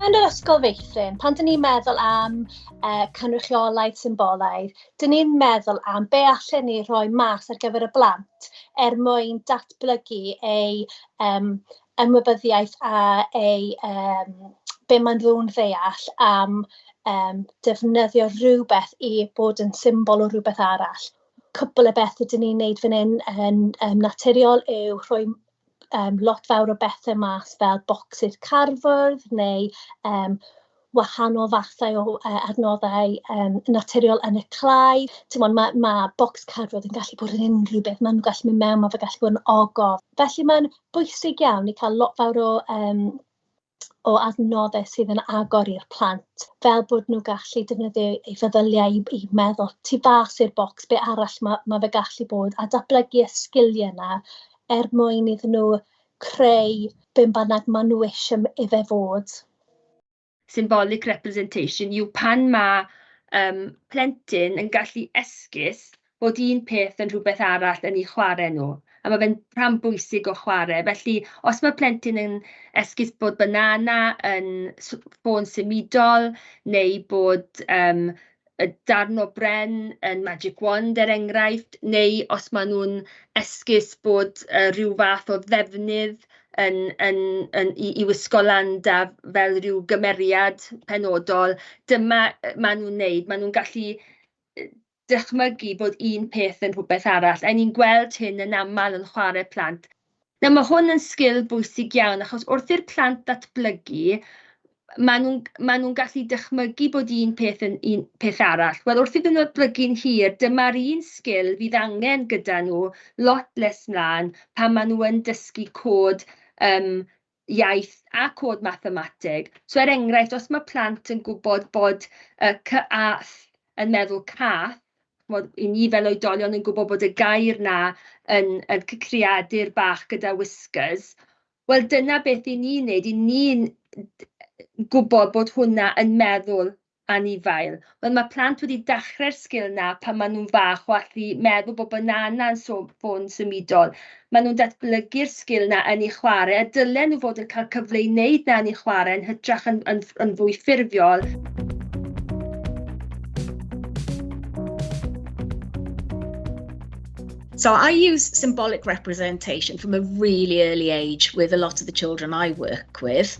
yn yr ysgol feithrin, pan dyn ni'n meddwl am uh, cynrychiolaeth symbolaidd, dyn ni'n meddwl am be allan ni rhoi mas ar gyfer y blant er mwyn datblygu eu um, ymwybyddiaeth a eu yym be maen nhw'n ddeall am yym defnyddio rhywbeth i bod yn symbol o rywbeth arall. Cwpl o bethe dan ni'n wneud fan hyn yn yn naturiol yw rhoi yym lot fawr o bethe mas fel bocsys cardfwrdd neu yym... wahanol fathau o adnoddau um, naturiol yn y clai. Timod, mae, mae bocs cadwyd yn gallu bod yn unrhyw beth. Mae'n gallu mynd mewn, mae'n gallu bod yn ogof. Felly mae'n bwysig iawn i cael lot fawr o, um, o adnoddau sydd yn agor i'r plant, fel bod nhw'n gallu defnyddio ei feddyliau i, i meddwl tu fas i'r bocs, be arall mae, mae fe gallu bod, a datblygu y sgiliau yna er mwyn iddyn nhw creu beth bynnag maen nhw eisiau i fe fod. symbolic representation, yw pan mae um, plentyn yn gallu esgus bod un peth yn rhywbeth arall yn ei chwarae nhw, a mae fe'n rhan bwysig o chwarae. Felly, os mae plentyn yn esgus bod banana yn ffôn symudol, neu bod um, yy darn o bren yn magic wand er enghraifft, neu os maen nhw'n esgus bod yy ryw fath o ddefnydd yn yn yn i i wisgo lan da fel ryw gymeriad penodol, dyma yy maen nhw'n wneud, maen nhw'n gallu yy dychmygu bod un peth yn rhywbeth arall, a 'y ni'n gweld hyn yn aml yn chwarae plant. Nawr mae hwn yn sgil bwysig iawn achos wrth i'r plant ddatblygu, maen nhw'n... maen nhw'n gallu dychmygu bod un peth yn un peth arall. Wel, wrth iddyn nhw ddatblygu'n hir, dyma'r un sgil fydd angen gyda nhw lot nes 'mlaen pan maen nhw yn dysgu cod yym iaith a cod mathemateg. So er enghraifft, os mae plant yn gwybod bod y cy a th yn meddwl cath, chimod, i ni fel oedolion yn gwybod bod y gair 'na yn yn c- creadur bach gyda whiskers, wel dyna beth 'yn ni'n wneud, 'yn ni'n gwybod bod hwnna yn meddwl Anifail. Wel mae plant wedi dachre'r sgil 'na pan ma' nhw'n fach o allu meddwl bod banana'n so- ffôn symudol. Ma' nhw'n datblygu'r sgil 'na yn eu chwarae a dylen nhw fod yn cael cyfle i wneud 'na yn eu chwarae yn hytrach yn yn ff- yn fwy ffurfiol. So I use symbolic representation from a really early age with a lot of the children I work with.